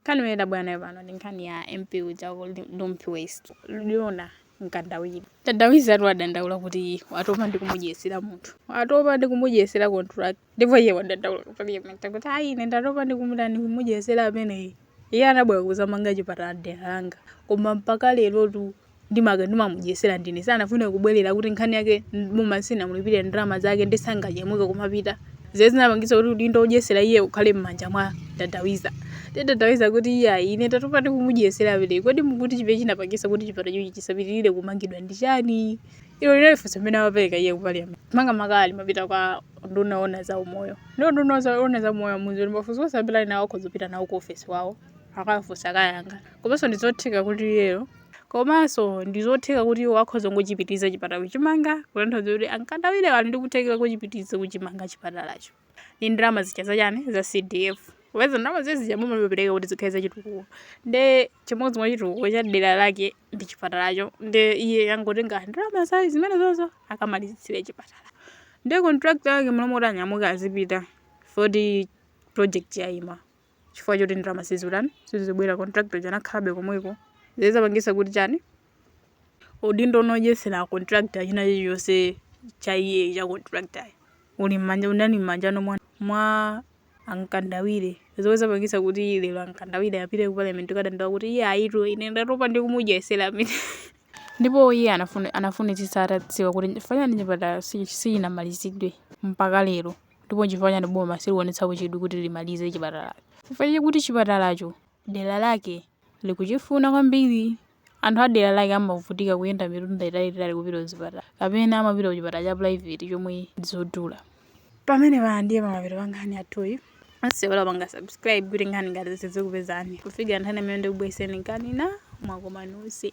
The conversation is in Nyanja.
Nkhani imene tabwera nayo pano ndi nkhani ya MP uja wa ku Rumphi West, Jona Mkandawire. Dadawizatu wadandaula kuti watopa ndi kumudyesera munthu. Watopa ndi kumudyesera contractor. Ndipo iye wadandaula ku parliament kuti ayi ine ndatopa ndi kumutani kumudyesera ameneyi. Iye anabwera kuzamanga chipatala dera langa. Koma mpaka lerotu ndimangomudyesera ndine sanafuna kubwerera kuti nkhani yake boma silinamulipire ndalama zake nde sanganyamuke kumapita zimene zinapangitsa kuti udindo wodyesera iye ukhale m'manja mwa dadawiza nde dadawiza akuti iye ayi ine ndatopa ndi kumudyesera ameneyi kodi mukuti chimene chinapangitsa kuti chipatalachi chisapitirire kumangidwa ndi chani ilo linali funso limene amapereka iye kupaliyamenti makamaka amapita kwa nduna ona za umoyo ndi nduna za- ona za umoyo akuti mafunso onse amene ali nawo akhoza kupita nawo ku ofesi yawo akafunse akayankha komanso ndizotheka kuti iyeyo Komanso ndi zotheka kuti iwo akhoza kungochipitiriza chipatala kuchimanga, kutanthauza kuti a Mkandawirewo ali ndi kuthekera kochipitiriza kuchimanga chipatalacho ndi ndalama zija za chani, za CDF. Popeza ndalama zija zija boma limapereka kuti zikhale za chitukuko. Nde chimodzi mwa chitukuko cha dera lake ndi chipatalacho. Nde iye angotenga ndalama za zimenezozo akamalizitsire chipatala. Nde contractor wake mlomoti anyamuke azipita poti project yayima. chifukwa choti ndalama sizikutani sizikubwera contractor uja anakhalabe komweko zomwe zapangisa kuti chani udindo womudyesera contractor china chilichonse cha iye cha contractor uli mmanja unali mmanjano mwa, mwa a Mkandawire zomwe zapangisa kuti lero a Mkandawire apite ku parliament kukadandaula kuti iye ayitu ine ndatopa ndi kumudyesera ameneyi ndipo iye anafune- anafunitsitsa atadziwa kuti chifukwa chani chipatala si- sichinamalizidwe mpaka lero Ndipo nchifukwa chani boma silikuonetsapo chidwi kuti limalize chipatalacho? Chifukwa chakuti chipatalacho dera lake likuchifuna kwambiri. Anthu a dera lake amavutika kuyenda mitunda italiitali kupita kuzipatala kapena amapita kuchipatala cha private chomwe ndi chodula. Pamenepa ndiye pa mapeto pa nkhani yathuyi. Musaiwale kupanga subscribe kuti nkhani ngati izi zizikupezani kufikira nthawi imene ndikubweretsereni nkhani ina mwakoma nonse.